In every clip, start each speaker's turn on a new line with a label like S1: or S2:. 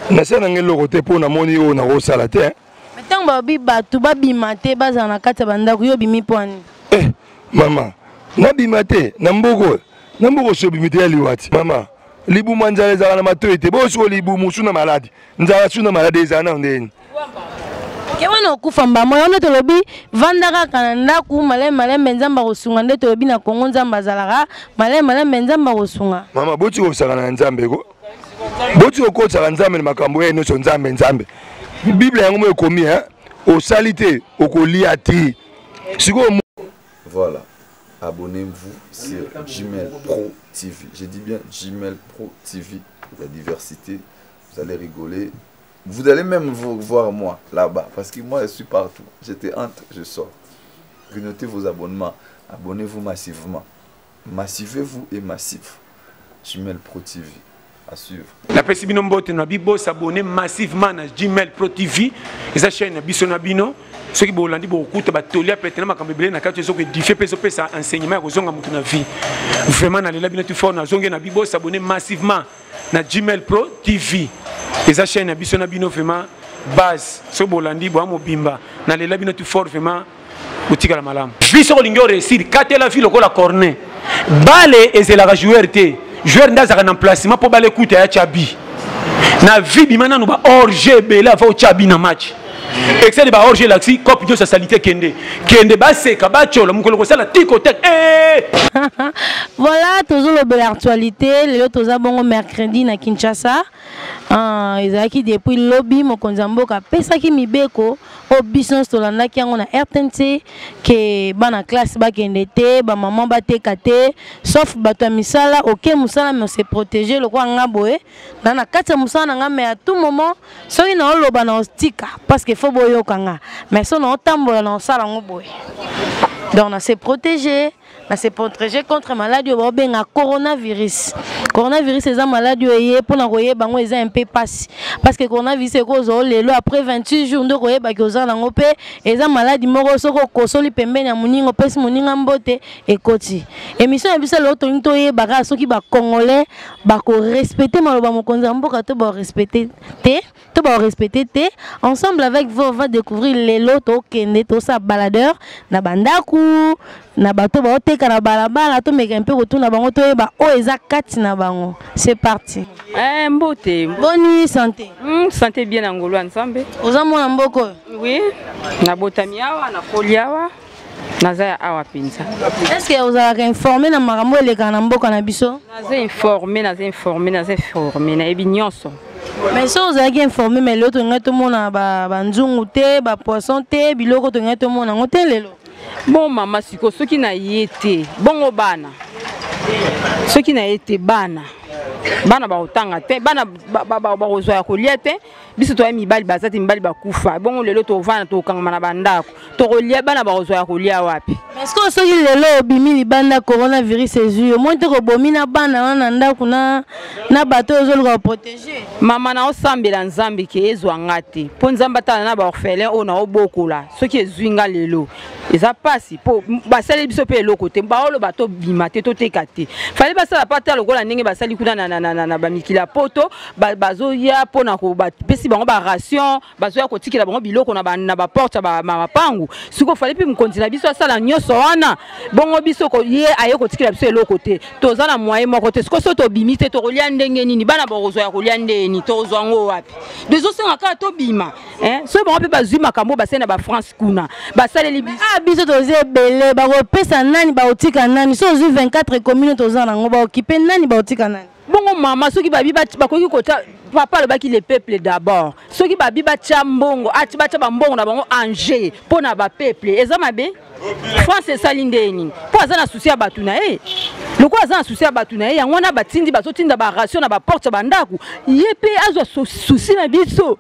S1: nasala nanga eloko te mpo namoni oyo nakosala te ntango babi
S2: bato babima te bazala na kati ya bandako yo obimi mpo ani eh, mama
S1: nabima te na mboka oyo na mboka osi obimi te ya liwati mama libumu ya nzala ezalaka na matoi te bosiko libumu su na maladi nzala su na maladi ezala nao ndeni ke
S2: wana okufa mbamo yango nde tolobi vanda kaka na ndako malemi malembe nzambe akosunga nde tolobi na kongo nzambe azalaka malemi malembe nzambe akosunga mama boti kosakana na
S1: nzambe ko boti kokotisaka nzambe na makambo ye nyonso nzambe nzambe biblia yango mo ekomi hein? osali te okolia te sikoyo
S3: voilà abonnez-vous sur gmail pro tv j'ai dit bien gmail pro tv la diversité vous allez rigoler vous allez même vous voir moi là-bas parce que moi je suis partout j'étais entre je sors notez vos abonnements abonnez-vous massivement Massivez-vous et massif. Gmail Pro TV. À suivre. La pesi bino mbote
S4: na bibo s'abonner massivement na Gmail Pro TV. Esa chaîne na biso na bino. soki bolandi bokokuta batoli ya pete na makambo ebele na kati oyo ezoki edifie mpe ezopesa enseignement ya kozonga moto na vie vraiment nalela bino ti fort nazongi na bibo s'abonner massivement na gmail pro tv eza chaîne ya biso na bino vraiment base soki bolandi boya mobimba nalela bino ti fort vraiment otikala malamu vi soki olingi oresir katela vi lokola corne bale ezelaka joueur te joueur nde azalaka na emplacement mpo bale kuta ya cabi na vi bima nanu ba hors jeu ebele ava otya bi na match excede ba hors jeu elakisi cope nyonso ya salite kende kende baseka batyola mokolo kosala tiko te eh! voilà
S2: tozolobela actualité lelo toza bongo mercredi na kinshasa Ah, ezalaki depuis lobi mokonzi ya mboka apesaki mibeko oyo biso nyonso tolandaki yango na rtnc ke bana classe bakende te bamama bateka te sauf bato ya misala oke mosala me ose protege lokola nga boye na na kati ya mosala na nga me à tout moment soki naoloba na ostika parce que fo boyoka nga mais so naotambola na osala yango boye donc na se protege na se protéger contre maladie oyo baobenga coronavirus coronavirus eza maladi oyo eye mpona koyeba yango eza mpe mpasi parce que coronavirus ekozwa o lelo après 28 jours nde okoyebaki oza nango mpe eza maladi moko soki okosoli pembeni ya moninga opesi moninga mbote ekoti émission ya biso lelo tolingi toyeba kaka soki bacongolais bakorespecte maloba mokonzi ya mboka to barespecte te to ba respecter te ensemble avec vous on va découvrir lelo to kende to sa baladeur na bandaku na bato ba oteka na balabala to meka mpe kotuna bango to yeba o eza kati na bango c'est parti eh mbote
S5: boni santé
S2: mm, santé bien na
S5: ngolo nzambe oza mwana mboko
S2: oui
S5: na botami awa na koliawa naza ya awa mpenza estce ozalaka
S2: informe na makambo elekaka na mboka na biso naza informe
S5: naza informe naza informe nayebi nyonso mais so
S2: ozalaki informe mai lelo tolingai tomona banzungu te bapoisson te biloko tolingai tomona yango te lelo bon mama
S5: sikoyo soki na ye te bongo bana soki na ye te bana bana bakotanga te bana bakozwa ya kolia te biso toya mibali baza te mibali bakufa bongo lelo tovanda tokangama na bandako tokolia bana bakozwa ya kolia wapi parceke soki lelo
S2: obimi libanda coronavirus ezwi yo moi te kobomi na bana wana na ndako na, na bato oyo ozoluka koprotege mama na osambela
S5: nzambe ke ezwa nga te mpo nzambe atala na baorphelin oyo naobokola soki ezwi nga lelo eza mpasi mpo basali biso mpe eloko te baoloba tobima te toteka te fali basala mpe ata lokola ndenge basali kuna na, na, na, na, na bamikili ya poto bazoya mpo na bapesi bango baration bazoya kotikela bango biloko na baporte ya mapangu sikoyo fali mpe mokonzi na biso asala nyonso wana bongo biso ye aye kotikela biso eloko te toza na moye moko te sikoyo so tobimi te tokolia ndenge nini bana bakozwa ya kolia ndeni tokozwa yango wapi tozosenga kaka tobima eh? soki bango mpe bazwi makambo basali na bafrance kuna basaleli ah, biso toza
S2: ebele bakopesa nani bakotika nani so ozwi 24 commune toza nango baokipe nani bakotika nani bongo mama soki
S5: babi bakoki kota papa alobaki le peuple d'abord soki babi batya mbongo ati batya bambongo na bango ange mpo na bapeuple eza mabe france esali ndenge nini mpo aza na susi ya bato na ye lokola aza na susi ya bato na ye yango wana batindi bazotinda baration na baporte ya bandako ye mpe azwa susi na biso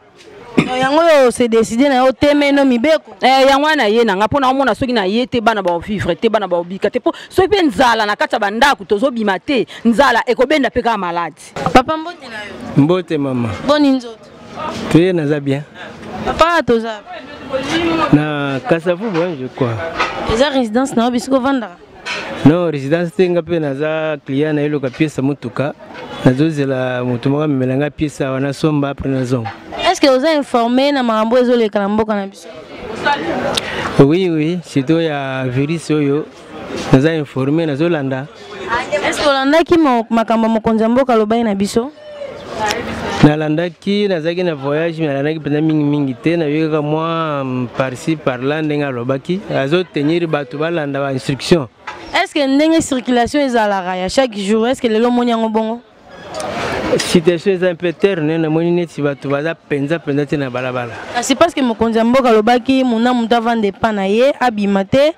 S5: yango oyo
S2: se décide na yo temeno mibeko eh, yango wana naye na nga
S5: mpo naomona soki naye te bana baovivre te bana baobika te mpo soki mpe nzala na kati ya bandako tozobima te nzala ekobenda mpe kaka maladi papa mbote na
S2: yo mbote mama boni
S6: nzoto
S2: toye naza
S6: bien papa toza na kasavubu
S2: je
S6: crois
S2: eza
S6: résidence na yo
S2: bisiko
S6: vandaka non résidence te nga mpe naza client na eloka piesa motuka nazozela moto moko amemela nga piesa awa nasomba apres nazonga est ce que oza
S2: informe na makambo ezoleka na mboka na biso
S6: oui oui surtout ya virus oyo naza informe nazolanda est ce que
S2: olandaki makambo ya mokonzi ya mboka alobaki na biso nalandaki
S6: nazalaki na voyage me nalandaki mpenza mingimingi te nayoki kaka mwa mm, parci parla ndenge alobaki azotenir bato balanda bainstruction est ce que ndenge
S2: circulation ezalaka ya chaque jour est ce que lelo omoni yango bongo
S6: situation eza un peu terne namoni neti bato baza mpenza mpenza te na balabala kasi parceke mokonzi
S2: ya mboka alobaki mona moto avanda epa na ye abima te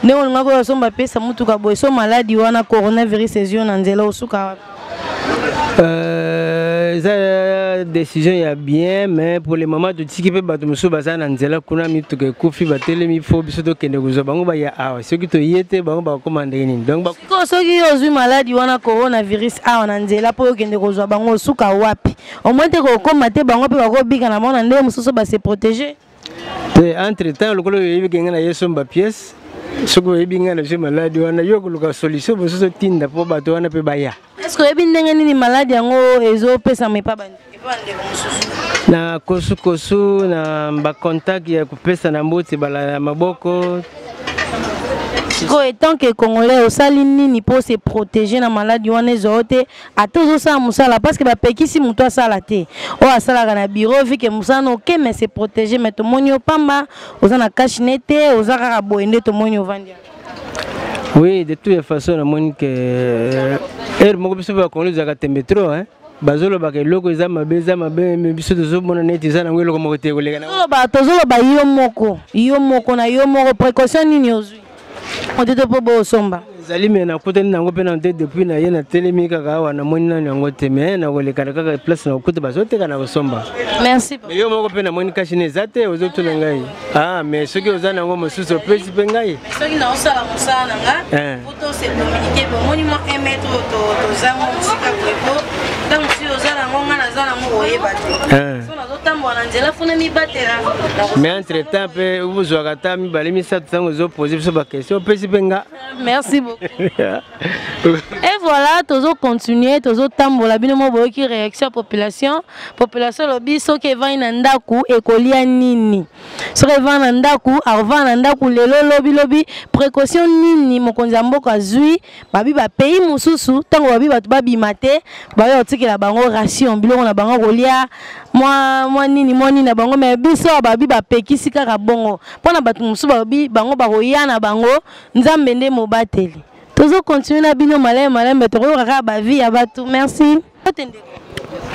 S2: ndenge olingaki oyo asomba apesa motuka boye so maladi wana coronavirus ezwi yo na nzela osuka wapi euh,
S6: eza euh, décision ya bien mais pour le moment totiki mpe bato mosusu baza na nzela kuna mituka ekufi batelemi fo biso tokende kozwa bango baya awa soki toye te bango bakokoma ndenge nini donc soki yo ozwi
S2: maladi wana coronavirus awa na nzela mpo okende kozwa bango osuka wapi omoi te kokoma te bango mpe bakobika na bango na ndenge mosusu base protéger te entre
S6: temps lokola oyebi kenge na ye somba pièce soki oyebi ngai nazwi maladi wana yo koluka solution mosusu otinda mpo bato wana mpe baya eske oyebi ndenge
S2: nini maladi yango ezopesama epa bandi
S6: na kosukosu na bacontact ya kopesa na mbote bala ya maboko sikoyo
S2: etant ke congolais osali nini mpo se protéger na maladi wana ezwa yo te ata ozosala mosala parce que bapekisi moto asala te oyo asalaka na bureau vi ke mosala na oke mais se protege mais tomoni yo pamba oza na cache ne te oza kaka boye nde tomoni ovandi oui
S6: de toute façon namoni ke euh, heure moko biso bakongoli ezalaka tembe trop hein bazolobaka eloko eza mabe eza mabe me biso tozomona neti eza nango eloko moko te koleka tozoloba yo
S2: moko yo moko na yo moko précaution nini ozwi otete mpo bosomba ezali me nakutani
S6: nango mpe nano te depuis na ye natelemi kaka awa namoni nano yango te me nakolekana kaka place nakokuta bazoteka na kosomba merci me yo moko
S2: mpe namoni
S6: kashi na eza te ozotuna ngai ah me soki oza nango mosusu opesi mpe ngai soki naosala mosala
S2: na nga eh. po tose communike bomoni mwa un mètre oyo tozango mosika boye po ntango mosusu oza nango ngai naza nango oyeba te eh. mais entre
S6: temps mpe bozwaka ata mibale misato ntango ezopose biso baquestion opesi mpe nga merci
S2: beaucoup et voilà tozocontinue tozotambola bino mo boyoki réaction ya population population elobi soki evandi na ndako ekolia nini soki evandi na ndako akovanda na ndako lelo lobilobi précaution nini mokonzi ya mboka azwi babi bapays mosusu ntango babi bato babima te baoya kotikela bango ration biloko na bango kolia mwa mwa nini mwa nini na bango me biso babi bapekisi kaka bongo mpo na bato mosusu babi bango bakoya na bango nzambe nde mobateli tozokontinue na bino malamu malamu me tokoyoka kaka bavi ya bato merci mbote ndeko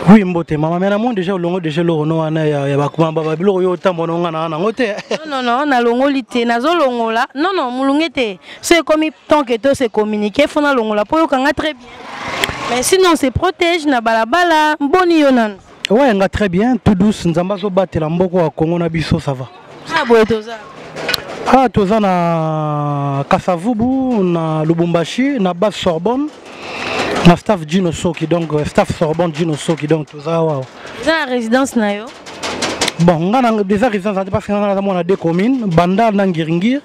S7: oui mbote mama mais namoni déjà olongo déjà eloko no wana ya bakumababa biloko yo otambo na onga na nango te nonono nalongoli te
S2: nazolongola nono molunge te so ekomi tant que to se communique fo nalongola mpo oyokanga très bien mais sinon se protège na balabala mboni yo nano owayenga très bien
S7: tout douce nzambe azobatela mboko ya kongo na biso ça va Na boye
S2: toza. Ah
S7: toza na Kasavubu na Lubumbashi na base Sorbonne na staff Gino Soki donc euh, staff Sorbonne Gino Soki donc toza wawa. Za résidence
S2: na yo. bon nga
S7: na déjà résidence ate parce que nga naza mwana de commune bandal na ngiringir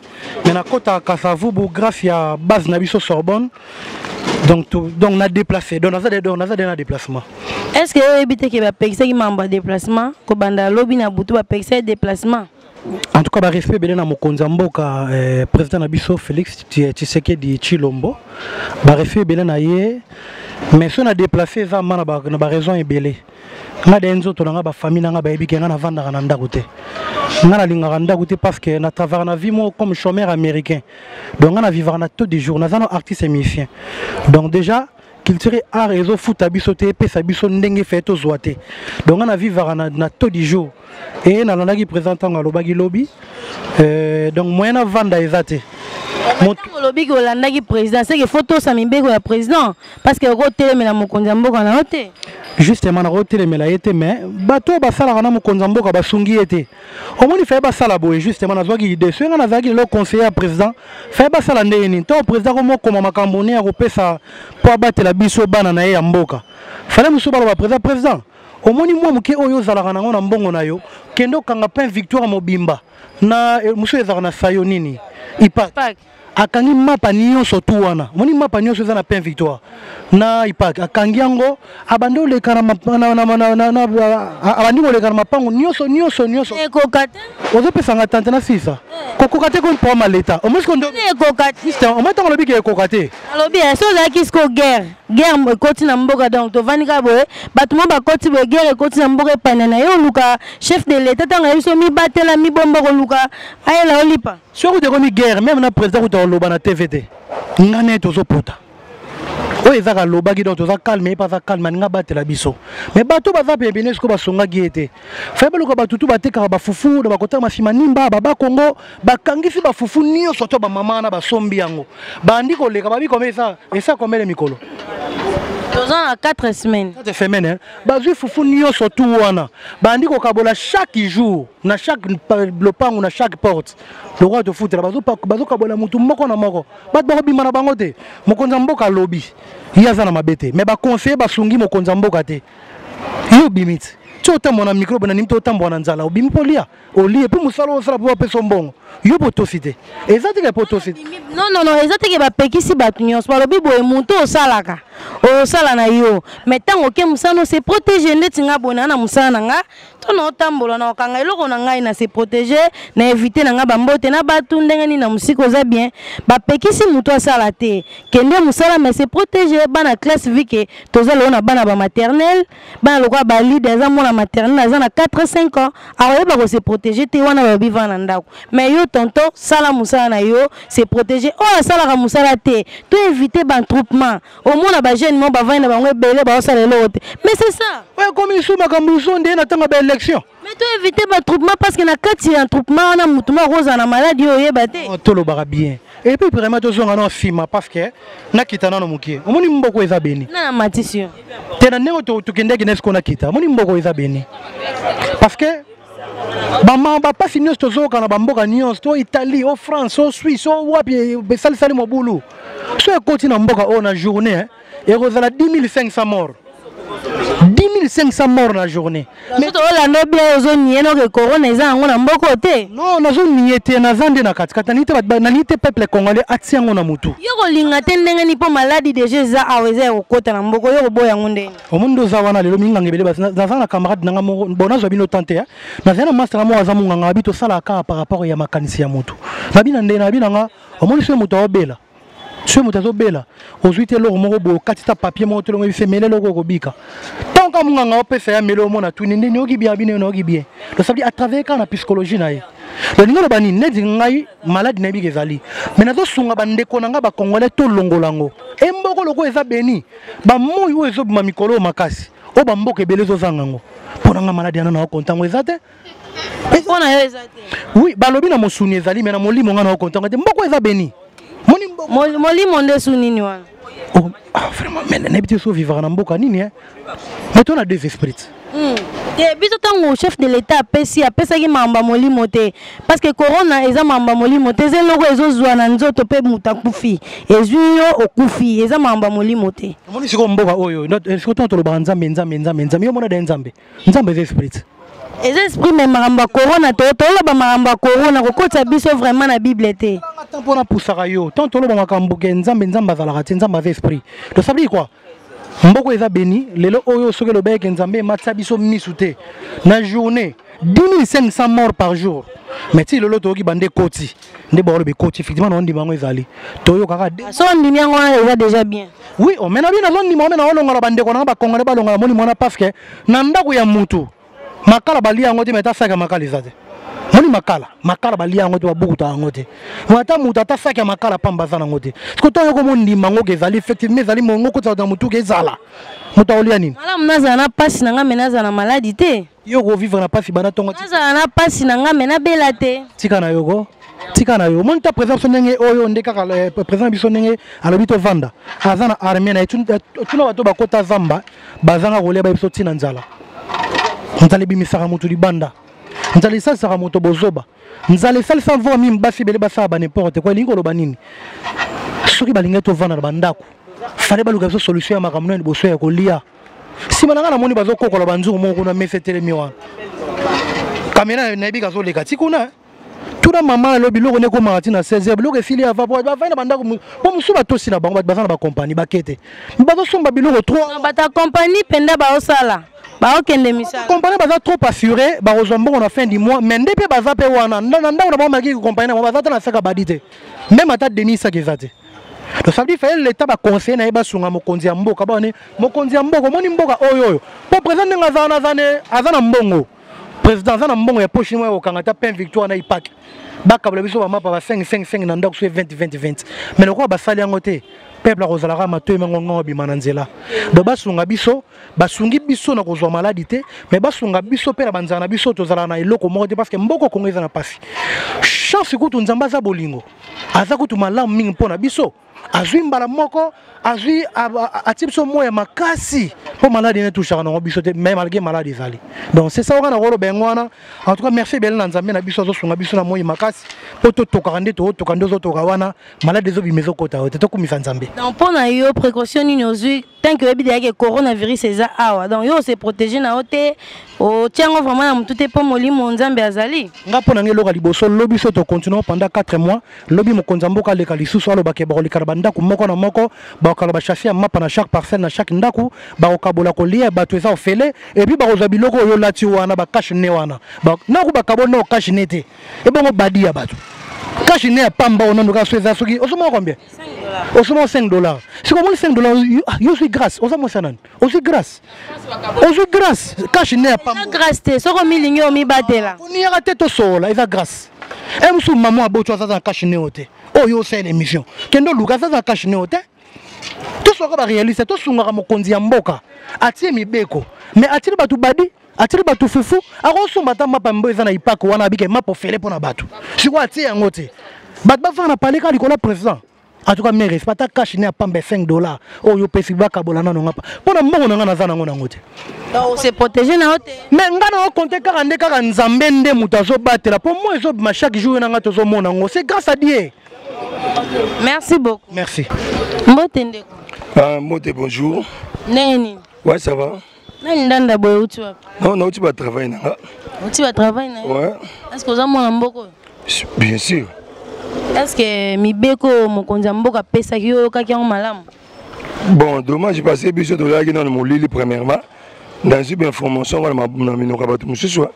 S7: mais nakota kasavubu grâce ya base na biso sorbonne donc tout donc na déplacer donc naza donc naza na déplacement est ce que oyebi
S2: te ke bapekisaki mambo ya déplacement kobanda lobi na butu bapekisaki déplacement en tout cas
S7: ba respect belena mokonzi ya mboka eh, président na biso Félix Tshisekedi Chilombo ba respect belena ye mais so na déplacer eza mana ba na ba raison ebele nga de nzoto na nga ba famille na nga ba yebike nga na vandaka na ndako te nga na lingaka ndako te parce que na travailler na vie mo comme chômeur américain donc nga na vivaka na taux de jour naza na artiste musicien donc déjà culture art ezofuta biso te epesa biso ndenge feye tozwa te donc nga na vivaka na, na taux du jour eye nalandaki présent ntango alobaki lobi euh, donc moyen avanda eza te olobi
S2: ke olandaki président seke fo tosa mibeko ya président parce que okotelemela mokonzi ya mboka na yo te justement
S7: nakotelemela ye te mais bato oyo basalaka na mokonzi ya mboka basungi ye te omoni faye basala boye justement nazwaki idée soki ngai nazalaki lelo conseiller ya président faye basala ndenge nini ntango président komokoma makambo ne ya kopesa mpo abatela biso bana na ye ya mboka fale mosusu baloba président président omoni mwa moke oyo ozalaka nango na mbongo na yo kende okanga pain victoire mobimba na eh, mosusu ezalaka na sayo nini ipak akangi mapa nyonso tu wana omoni mapa nyonso eza na pain victoire na ipak akangi yango abandi koleka abandi koleka na mapango nyonso nyonso nyonso
S2: ozopesa nga
S7: tante na sisa eh. kokoka te kompo maleta omoi ntango olobi ke ekoka te alobi eh, so ozalaki
S2: siko guerre guerre ekoti na mboka donc tovandi kaka boye bato mwa bakoti boye guerre ekoti na mboka epanda na ye oluka chef de leta ntango ayebi so mibatela mibomba koluka ayela olipa soki kutu ekomi guerre
S7: meme na président kutu akoloba na tv te nga naye tozopota oyo ezaka alobaki donc toza calme ye mpe aza calme alinga abatela biso mais bato baza pembene sikoyo basongaki ye te fai baluka bato tu batekaka bafufu na bakotaka masima nimba baba kongo bakangisi bafufu nyonso to bamama wana basombi yango bandi koleka babi kome esa esa komele mikolo toza
S2: na 4 semaine 4 semaine
S7: bazwi fufu nyonso tu wana bandi kokabola chaque jour na chaque lopango na chaque porte lokola tofutela bazokabwana motu moko na moko bato bakobima na bango te mokonzi ya mboka alobi ye aza na mabe te mai baconseille basungi mokonzi ya mboka te ye obimi te ti otambwa na mikro bena nimi te otambwa na nzala obimi mpo olia olie mpo mosala osala mpo bapesa mbongo yo mpo otosi te eza teke mpo otosi te nonono eza teke
S2: bapekisi bato nyonso balobi boye moto osalaka osala na yo mai ntango oke mosala no se protege ndeti nga boye naa na mosala na nga to naotambola na okanga eloko na ngai na se protege na evite na ngai bambote na batu ndenge nini na mosika oza bien bapekisi motu asala te kende mosala mais se protege bana classe vike toza lelo na bana ba maternel bana lokola balide aza mwana maternel aza na 4 5 ans akoyeba kose protege te wana balobi vana na ndako mais yo tonto sala mosala na yo se protege oyo asalaka mosala te to evite bantroupement omona ba jeune mo bavandi na bango ebele baosala eloko te mais c'est ça oyo ekomi lisusu makambo
S7: lisusu nde na ntango ya baélection mais to évite
S2: batroupement parce que na kati ya troupement wana motu moko akozala na maladi oyo oyeba te oh, tolobaka bien
S7: epuis vraiment tozonga no nsima parce que nakita nano moke omoni mboko eza beni na matisi yo
S2: te na ndenge
S7: tokendaki na esiko nakita omoni mboko eza beni parce que bama bapasi nyonso tozoyoka na bamboka nyonso to italie o france o suisse o wapi e, esalisali mobulu so ekoti na mboka oyo na journée eh, ekozala 10500 mort 10500 mort na journée olanda
S2: bia ozoniye noke corona eza yango na mboka oyo te no nazoniye te
S7: naza nde na katikati nalingi te peuple congolais atia yango na motu yo kolinga te ndenge
S2: ni mpo maladi deja eza awa eza ya kokota na mboka yo koboya yango ndenge omoni nde oza wana lelo
S7: minganga ebele basi naza na camarade nanga moko bon nazwa bino temps te nazali na mastanga moko aza monganga abi tosalaka kaka par rapport ya makanisi ya motu nabi na ndenge nabi nanga omoni soki moto aobela soki moto azobela ozwi te eloko moko boye okati ta papier moko tolongo ebi se mele eloko okobika ntanka monganga opesa ya mele omona tuni nde nioki bien abi nde nayoki bien losabili atravers kaka na psychologie na ye lolingi oloba nini neti ngai maladi na yebika ezali mai nazosunga bandeko na ngai bacongolais tolongola yango emboko lokola eza beni bamoi oyo ezobima mikolo oyo makasi oyo bamboka ebele ezozanga yango mpo na nga maladi yana na okonta yango eza te mpo na yo
S2: eza te oui balobi na mosuni
S7: ezali me na molimo nga na okonta yango te mboko eza beni
S2: molimo nde su nini wana oh, ah, vraiment
S7: nayebi te so vivaka na mboka nini eh? me to na deux esprits Hmm. te biso
S2: ntango chef de l'etat apesi apesaki mamba molimo te parce que corona eza mamba molimo te eza eloko ezozwa na nzoto mpe moto akufi ezwi yo okufi eza mamba molimo te omoni sikoyo mboka oyo
S7: eh, sikoyo ntango tolobaka nzambe nzambe nzambe nzambe yo omona de nzambe nzambe eza esprit eza esprit
S2: me makambo ya corona to toloba makambo ya corona kokotisa biso vraiment na bible te mpona pusaka
S7: yo ntango toloba makambo ke nzambe nzambe azalaka te nzambe aza esprit tosabili kua mboko eza beni lelo oyo soki elobaki eke nzambe ematisa biso misu te na journée 10500 mort par jour mais ti lelo toyoki bande ekoti nde baoloba ekoti effectivement na ondima yango ezali toyokaka ah, so ondimi yango
S2: wana eza déjà bien oui omena bino
S7: nazondima omena olongola bandeko nanga bakongole balongola moni mwana pafke na ndako ya mutu makala balia yango te me ata saki ya makala eza te moni makala makala balia yango te babukuta yango te me ata moto ata saki ya makala pamba aza nango te siko to yoko mondima ngo ke ezali effectivement ezali mongo kotisaka na motuka ezala moto akolia nini malamu nazala na mpasi
S2: na ngai me nazala na maladi te yo okovivre na mpasi
S7: bana ntongo nazala na mpasi na
S2: ngai me nabela te tika na yoko
S7: tika na yo omoni ta président biso ndenge oyo nde kaka eh, président biso ndenge alobi tovanda aza na armée na ye tuna bato bakota zamba bazanga kolia bayebi biso ntina nzala nzala ebimisaka moto libanda nzala esalisaka moto bozoba nzala esalisa mvua mimi basi ebele basala baneporte kua elingi koloba nini soki balingaki tovanda na bandako fale baluka biso solution ya makambo na liboso ya kolia nsima na ngai namoni bazokokola banzungu moko kuna mesa etelemi wana kamera nayebi kazoleka ti kuna tuna mama alobi biloko nde ekomaka ti na 16 biloko efili ava po bavai na bandako po mosusu batosi na bango bato baza na bakompani bakete bazosomba biloko trop bato ya kompani
S2: mpenza baosala baokende misala kompani baza trop assure
S7: bakozwa mbongo na fin du mois mais nde mpe baza mpe wana na ndako na bango malaki kompani na bango baza ata na saka badi te meme ata denis saka eza te donc ça veut dire fallait l'état baconseille na ye basunga mokonzi ya mboka baone mokonzi ya mboka omoni mboka oyo oyo mpo président ndenge aza wana aza na mbongo président aza na mbongo ya poche moya kokanga ata pain victoire na ipake bakabala biso bamapa ba 555 na ndako so 20 20 20 me lokola basali yango te peuple akozalaka matoi mango ngongo abima na nzela donc basunga biso basungi biso na kozwa maladi te mais basunga biso mpe na banzala na biso tozalaka na eloko moko te parce que mboko kongo eza na mpasi chance kutu nzambe aza bolingo aza kutu malamu mingi mpo na biso azwi mbala moko azwi atie biso moya makasi mpo maladi ene touchaka nango biso te mais malgré maladi ezali donc c'est ça wana nakoloba yango wana en tout cas merci ebele na nzambe na biso azosunga biso na moi makasi mpo totokaka nde tootoka nde ozotoka wana maladi ezobima ezokota yo te tokumisa nzambe mpo na yo
S2: précaution nini ozwi tant que oyebi deja ke coronavirus eza awa donc yo ose protege na yo te otya yango vraiment na motu te mpo molimo nzambe azali nga mpo na ngai eloka liboso
S7: lobi so tocontinue pendant 4 mois lobi mokonzi ya mboka aleka lisusu alobake bakolikana bandako moko na moko bakokala bashase ya mapa na chaque parcelle na chaque ndako bakokabola kolia bato eza ofele epuis bakozwa biloko oyo olati wana bakashe ne wana nako bakabo nao kashe ne te ebongo badi ya bato kashe ne ya pamba onano kaka so eza soki ozomona combien osomba 5 dollars sikoyo omoni 5 dollars yo ozwi grâce oza mwasi ya nani ozwi grâce ozwi grâce kashe ne ya pambograce te soki omilingi
S2: omibatela koniyaka te tosoola
S7: eza grâce e eh, mosusu mama aboco azaza na kashe neo te oyo oh, osala émission kende oluka azaza na kashe neo te toswaka barealiste tosungaka mokonzi ya mboka atie mibeko mais atili bato badi atiki bato fufu akosomba ata mapa mbo eza na ipako wana abike mapa ofele mpo na bato sikoyo atie yango te bato bafaka na paleka likolo ya président atuka me respect ata cash ne apamba 5 dollars oyo oh, opesi bakabola nano ngapa mpo na mbongo na ngai naza nango nango te ose protege
S2: na yo te me ngai na okonte
S7: kaka nde kaka nzambe nde moto azobatela mpo moi ezobima chaque jour na ngai tozomona yango c'est grâce à dieu
S2: merci beaucoup merci
S7: mbote
S2: ndeko uh, mbote
S1: bonjour ndenge nini
S2: ouais ça va
S1: nani ndanda boye
S2: outi wapi non nauti batravail na
S1: nga outi batravail
S2: na yo est ce que oza
S1: mwana
S2: mboka oyo bien sûr
S1: est ce que
S2: mibeko oyo mokonzi ya mboka apesaki yo oyokaki yango malamu bon
S1: dommage parce biso tozalaki nano molili premièrement nazwi bainformation wana na minoko ya bato mosusu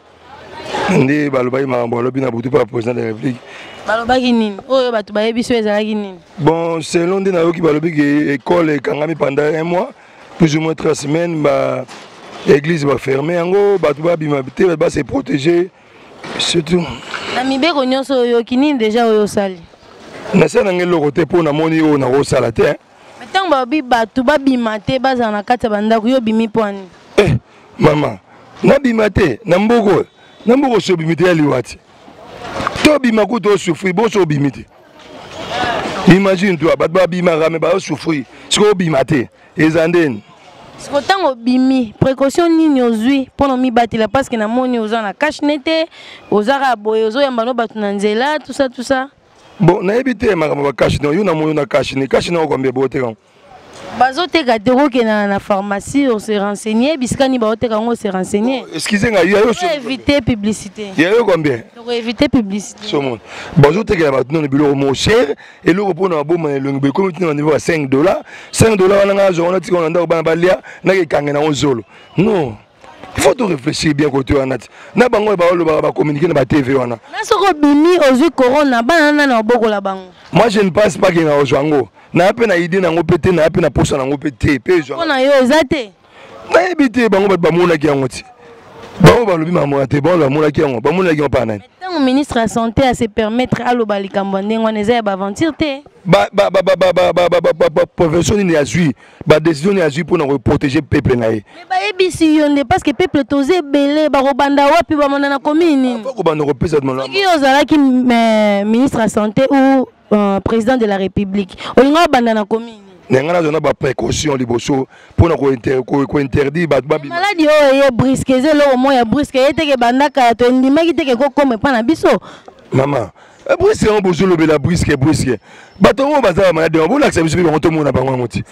S1: nde balobaki makambo balobi na butu mpo ya président de la république balobaki nini
S2: oyo bato bayebi so ezalaki nini bon selon nde
S1: nayoki balobi ke école ekangami pendant un mois plus ou moins trois semaines ba église baferme yango bato babima te ba se protéger surtout na mibeko
S2: nyonso oyoki nini déjà oyo osali nasala nanga
S1: eloko te mpo namoni oyo nakosala te Mais ntango balobi
S2: bato babima te bazala na kati ya bandako yo obimi mpo ani eh, mama
S1: nabima te na mboka oyo na mboka osi obimi te ya liwa te to obima kutu osufri bosi obimi te imagine toi bato babimaka me baosufri soki obima te eza ndeni siko ntango
S2: obimi précaution nini ozwi mpo na omibatela parceke namoni oza na cashne te oza kaka boye ozoyamba no bato na nzela tusa tusa bon nayebi
S1: te makambo bakashi no yo na moyo na kashi ni kashi nao kwambia booteka yango bazoteka
S2: te okokenda na pharmacie ose renseigner bisika nini baoteka yango ose renseigner excuse nga yo
S1: éviter publicité
S2: ya yo combien toko
S1: éviter publicité
S2: so mon
S1: bazotekela bato nano biloko mo cher eloko mpo na baboma na elongi boekomi ntina na niveau ya 5 dollar 5 dollar wana ngai azwa wana tika wana ndako bana balia nakekanga na yango zolo non il faut to réfléchir bien côté wana ti na bango oyo baolobaka bacommunike na batv wana na soki obimi
S2: ozwi corona bana na na obokola bango moi je ne pense pas ke
S1: na ozwa yango naya mpe na idée na yango mpe te naya mpe na posa na yango mpe te mpe ezwa na yo eza te
S2: nayebi te
S1: bango bato bamonaki yango ti bango balobi mamona te bango bamonaki yango bamonaki yango mpa nani ntango ministre ya santé
S2: ase permettre aloba likambo ya ndenge wana eza ya baaventure te baprofession
S1: nini azwi ba décision ya zui pona ko protéger peuple na ye mais ba yebisi yo
S2: nde parce que peuple toze belé ba ko banda wapi ba mona na commune faut ko banda ko pesa de
S1: mona yo zalaki
S2: euh, ministre ya santé ou euh, président de la république olinga banda na commune na ngai nazwa na
S1: baprécaution liboso mpona kointerdire bato babimaladi oyo eye briske
S2: eza eloko moko ya briske eye teke bandaka ya to endimaki teke kokoma epai na biso mama
S1: Eh, briske yango bozolobela briske briske bato yango baza bamalade yango bolakisa biso mpe bango tomona bango yango ti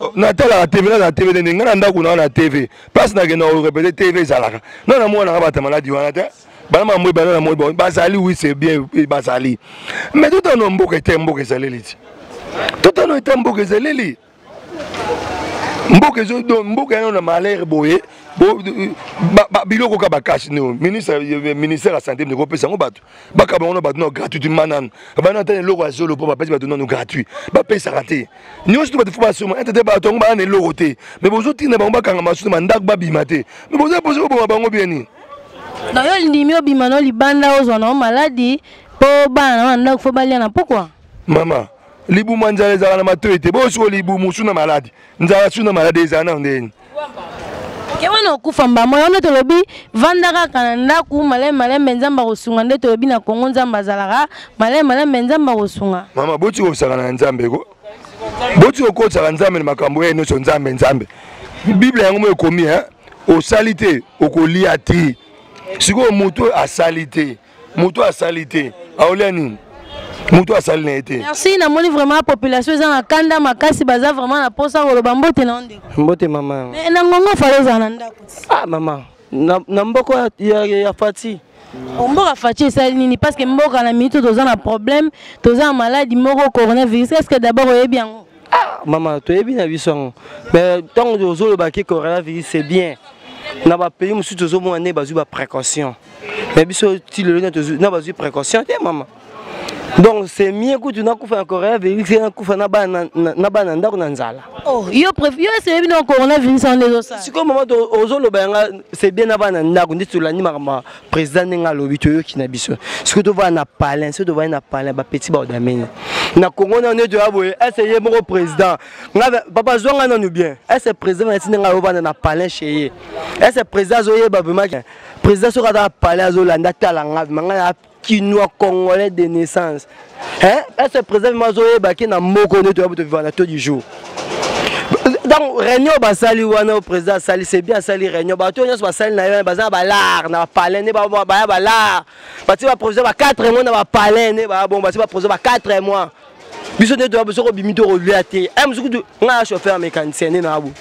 S2: oh, natalaka tv nazala
S1: tv te ndenge ngai na ndako naa na tv place nakenda orepete tv ezalaka ngai na mwana naka bata maladi wana te bana mambo ebana na moi bazali wi se bien eh, bazali mais totano mboka ete mboka ezaleli ti totano ete mboka ezaleli mboka ezo donc mboka yana na malheur boye biloko kaka bakasi neo ministre ministère ya santé ndeko opesa yango bato bakaba yango na bato nao gratuitement manano bana ata na eloko ya zolo mpo bapesi bato nano gratuit bapesaka te nyonso to bato fo basoma ete te bato yango baa na eloko te me bozotinda bango bakanga masusu bandako babima te me boza posi koboma bango bie nini na yo
S2: olindimi obima no libanda ozwa nao maladi mpo bana na yo na ndako fo balia na mpokwa mama
S1: libumu ya nzala ezala na matoi te boyosi oyo libumu suna maladi nzala suna maladi ezala nao ndenge nini ke
S2: wana okufa mbamo yango nde tolobi vanda kaka na ndako malai malembe nzambe akosunga nde tolobi na kongo nzambe azalaka malai malembe nzambe akosunga mama boti kosakana
S1: na nzambe ko boti kokosaka nzambe na makambo ya nyonso nzambe nzambe biblia yango mo ekomi osali te okolia te sikoyo moto asali te moto asali te aolia nini moto asali na ye te merci namoni vraiment
S2: population eza na kanda makasi baza vraiment na mposa koloba mbote na onde mbote mama mais
S6: na ngongo fale
S2: ozala na ndako ah mama
S6: na, na mboko ya, ya, ya, ya fati oh, mboka faci
S2: esali nini parce que mboka na minute toza na problème toza na maladi moko coronavirus est ce que d'abord oyebi yango ah mama
S6: toyebi na biso yango mais ntango tozoloba ke coronavirus c'est bien na bapays mosusu tozomona nde bazwi baprécaution mais biso ti lelo na bazwi précaution te mama donc c'est mieux kutu nakufa na coronavirus ye nakufa na bana ndako na nzala oh, yo
S2: eseyebi na coronavirus wana ezosala sikoyo mama
S6: ozoloba yanga c'est bien na bana ndako nde tolandi makambo président ndenge alobi toyoki na biso soki tovanda na palin soki tovandi na palin bapeti baodameni na congo nano nde toya boye ese ye moko président papa zwa ngai nanu bien ese président nati ndenge ayovanda na palin che ye ese président azoyeba vraimak président soki aza na palin azolanda tala ngai vraimak ngai na kinois congolais de naissance hein est ce président ma zo yeba ki na moko ne to ya to vivre na to du jour donc réunion basali wana au président asali c'est bien asali réunion bato nyonso basali na ye baza na balare na bapalin nde baya balare bati baprovision ba 4 mois na bapalin nde baya bongo bati baprovision ba 4 mois biso nde toya biso kobimi to kolia te e mosu kutu ngai ya chauffeur mécanicien nde naabu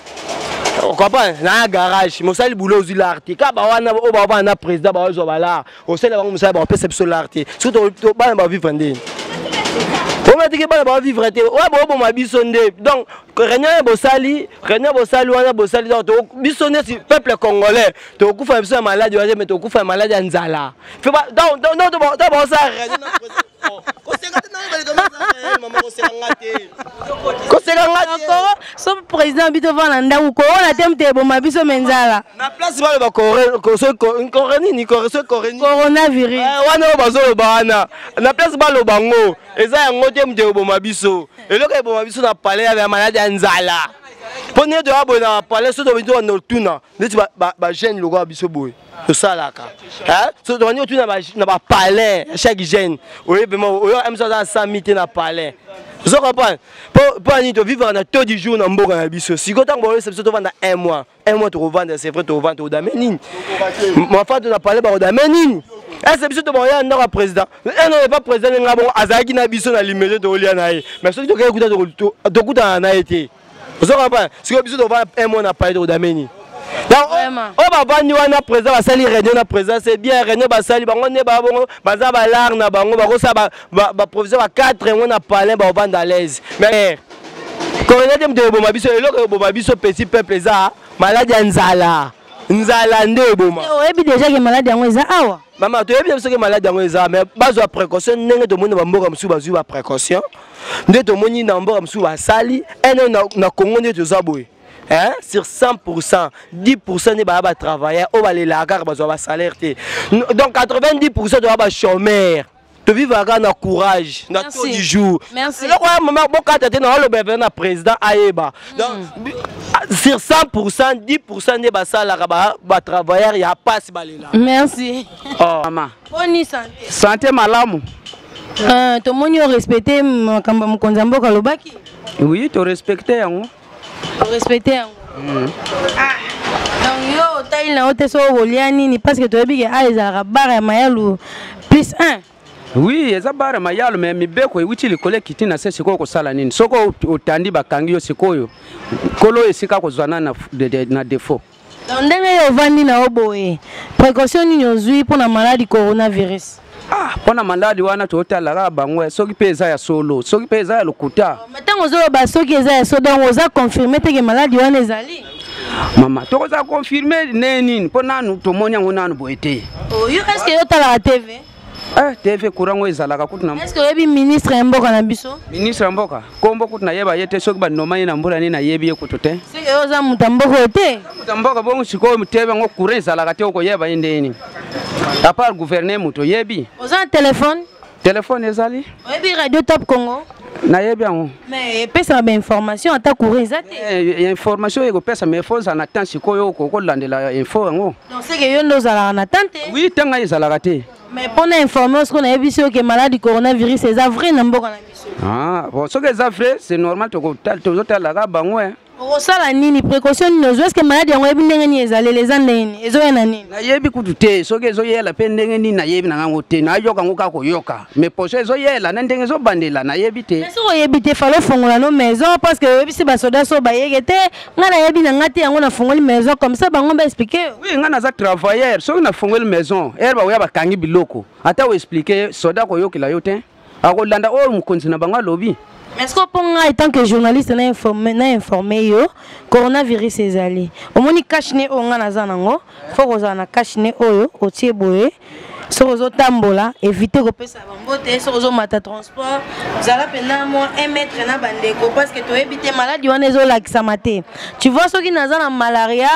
S6: okomprendre na garage mosali boulot ozwi lare te kaka bawana oyo bawana na président baozwa balare osali bango mosala bakopesa biso lar te soki tobana bavivre nde omatiki bana bavivre te oyo boboma biso nde donc réunion ya bosali réunion bosali wana bosali donc biso neti peuple congolais tokokufa na biso ya maladi wana te mais tokokufa ya maladi ya nzala donc bakosala réunion
S2: koseka te nayo baleka eh, mama koseka nga te koseka nga te koro so président bito va na ndako koro na teme te eboma biso me nzala na place baloba
S6: kore nini kore so kore nini
S2: coronavirus eh, wana oyo bazoloba
S6: wana na place baloba ngo eza yango te moto eboma biso eloko eboma biso na palais ya maladi ya nzala mpo nde toya boye na palais so tobandi wana otuna ndeti bajeune lokola biso boye tosalaka tobandi otu na bapalais ya chaque jeune oye pema oyo mso aza asami te na palais ozo comprendre mpo nini tovivaka na taux du jour na mboka na biso sikoyo ntango baoyesa biso tovanda un mois un mois tokovanda c'est vrai tokovanda tokodame nini mafato na palais bakodame nini ese biso tobakoya ndako ya président eno epa président ndenge bongo azalaki na biso na limete tokolia na ye mais soki tokei kuta tokutana na ye te ozo comprendre sikoyo biso tova un mois na paye tokodameni oyo bavandi wana président basali réunion na président c'est bien réunion basali bango nde baa bongo baza balare na bango bakosala baprovision ba 4 yango na palin bakovanda à l'aise mais kolonga te moto eboma biso eloko eboma biso petit peuple eza maladi ya nzala nzala nde eboma oyebi déjà ke maladi
S2: yango eza awa mama toyebi te soki
S6: maladi yango eza mais bazwa précaution ndenge tomoni na bamboka mosusu bazwi baprécaution nde tomoni na bamboka mosusu basali ene eh, na congo nde toza boye hein, sur 100%, 10% des baba travailleurs, au balé la gare, bazo ba salaire Donc 90% de baba chômeurs. tovivaka kaka na courage na to du jour eloko ya mama
S2: bokata
S6: te naoloba mpe na président ayeba hmm. sur 100 pourcent 10 pourcent nde basalaka batravailleur ya mpasi balela merci
S2: oh. mama
S6: boni sante
S2: sante malamu
S6: euh,
S2: tomoni orespecte makambo ya mokonzi ya mboka alobaki oui torespecte
S6: yango respecte
S2: yango mm. ah, donc yo otali na yo te soki okolia nini parce que toyebi ke a ezalaka bare ya mayalu plus 1 oui eza
S8: bare mayalo me mibeko ewuti likolo ekiti na se sikoyo kosala nini soki otandi bakangi yo sikoyo nkolo esika kozwa na, na, na defaut Donc
S2: ndenge yo ovandi na yo boye, précaution nini ozwi mpo na maladi coronavirus? Ah, mpo na
S8: maladi wana totala kaka bango eh, soki mpe eza ya solo, soki mpe eza ya lokuta. Oh, Ntango ozoloba
S2: soki eza ya solo, donc oza confirme teke maladi wana ezali? Mama,
S8: tokoza confirme ndenge nini? Mpo nanu tomoni yango nanu boye te. Oh, yo est-ce que yo
S2: otalaka TV? Eh, TV
S8: courant oyo ezalaka kutu na Est-ce oyebi ministre
S2: ya mboka na biso? Ministre ya mboka.
S8: Kombo kutu nayeba ye te soki ba noma ye na mbula ni nayebi ye kutu te. Seke yo oza muta mboka
S2: te? Muta mboka bongo
S8: sikoyo TV yango courant ezalaka te okoyeba ye ndeni. À part gouverner moto oyebi. Oza na telefone?
S2: Telefone ezali. Oyebi
S8: radio Top
S2: Congo? nayebi yango
S8: mais epesaka
S2: bainformation ata courant eza te eh, eh, information ekopesa
S8: mais fo ozala na temps sikoyo okolandela info yango Donc c'est que yo nde ozalaka
S2: na tante Oui, tanga ezalaka
S8: te. Mais pour na informer
S2: osko na yebisi yo que malade coronavirus eza vrai na mboka na biso. Ah, bon soki eza vrai,
S8: c'est normal toko tozo talaka bango hein. okosala nini
S2: précaution nini ozwa eske maladi yango oyebi ndenge nini ezaleli eza ndenge nini ezoya na nini nayebi kutu te
S8: soki ezoyela mpe ndenge nini nayebi na ngango te nayoka yango kaka koyoka mais poso ezoyela na ndenge ezobandela nayebi te soki oyebi te fale
S2: ofongola no maison parce que oyebisi basoda so bayeke te nga nayebi na nga te yango nafungoli maison comme ça bango ba expliqué oui nga naza
S8: travailleur soki nafungoli maison ere bakoya bakangi biloko ata oexplike soda koyokela yo te akolanda oyo mokonzi na bango alobi mais soki mpo ngai
S2: tant que journaliste na informe, na informe yo coronavirus ezali omoni cache ne oyo ngai naza nango fo kozala na cache ne oyo otie boye soki ozotambola évite kopesa bango te soki ozomata transport zala mpenza mwa 1 mètre na bandeko parce que toyebi te maladi wana ezolakisama te tu vois soki naza na malaria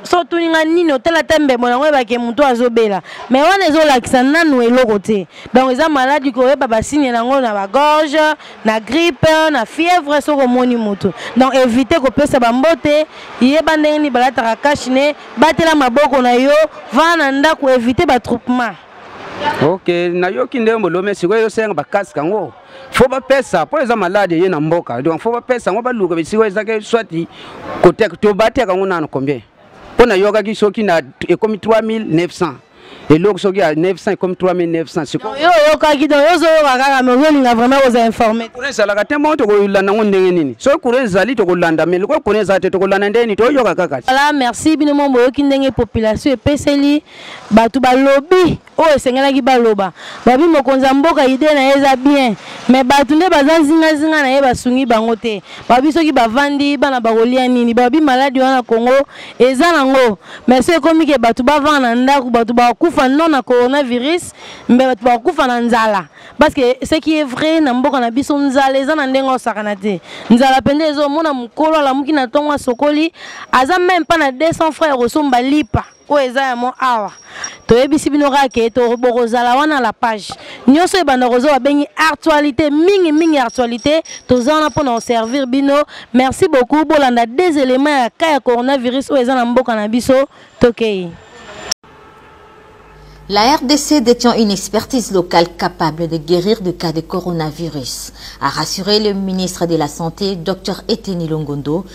S2: so otuni ngai nini otala ata mbembo yango oyebake motu azobela mai wana ezolakisa nanu eloko te donc eza maladi koyeba basigne nango na bagorge na grippe na fièvre soki omoni motu donc évite kopesa bambote yeba ndenge nini balataka kashine batela maboko na yo vana na ndako evite batroupement ok
S8: nayoki nde molome sikoyo ezosenga bakaske yango fo bapesa mpo eza maladi eye na mboka donc fo bapesa yango baluka bisikoyo ezaki swati koteka to bateka yango nano combien mpo nayokaki soki na ekomi 3900 eloko soki ya 900 comme 3900 sikoyo yo oyokaki donc yo ozoyoka
S2: kaka mais ozolinga vraiment kozala informe kuna ezalaka te moko
S8: tokolanda yango ndenge nini soki kuna ezali tokolanda mais lokola kuna ezala te tokolanda ndenge nini toyoka kaka voilà merci bino moko
S2: boyoki ndenge population epeseli bato balobi oyo esengelaki baloba babi mokonzi ya mboka ide na ye eza bien mais bato nde baza nzingazinga na ye basungi bango te babi soki bavandi bana bakolia nini babi maladi wana kongo eza nango mais so ekomi ke bato bavanda na ndako bato bakufa non na coronavirus mbe bato bakufa na nzala parce que ce qui est vrai na mboka na biso nzala eza na ndenge osakana te nzala mpenza ezomona mokolo alamuki na ntongo asokoli aza meme mpa na 200 franc ya kosomba lipa oyo eza yamo awa toyebisi bino kaka ke bokozala wana la page nyonso ebanda kozo babengi actualité mingi mingi actualité toza wana mpo na koservir bino merci beaucoup bolanda des éléments ya cas ya coronavirus oyo eza na mboka na biso tokei
S9: La RDC détient une expertise locale capable de guérir de cas de coronavirus, a rassuré le ministre de la Santé, Dr Eteni Longondo,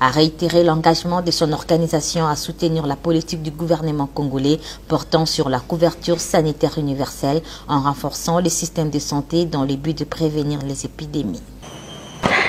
S9: a réitéré l'engagement de son organisation à soutenir la politique du gouvernement congolais portant sur la couverture sanitaire universelle en renforçant les systèmes de santé dans le but de prévenir les épidémies.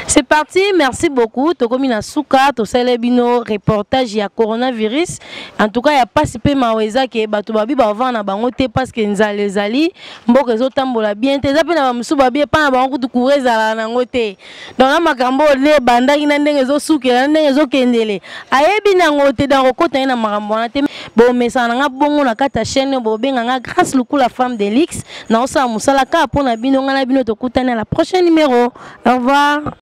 S2: C'est parti, merci beaucoup. Tokomi na suka, to sale bino reportage ya coronavirus. En tout cas, ya pasi pe maweza ke bato babi ba vana bango te parce que nzale zali mboko ezo tambola bien te. Eza pe na ba musu babi pa na bango kutu courage ala na ngote. donc na makambo oyo nde ebandaki na ndenge ezosukela na ndenge ezokendele ayebi nango te donc okota ye na makambo wana te bomesana na nga bongo na kati ya chaîne oyo bobenga nga grâce lukula femme de luxe naosala mosala kaka mpo na bino ngai na bino tokutani na la prochaine numéro au revoir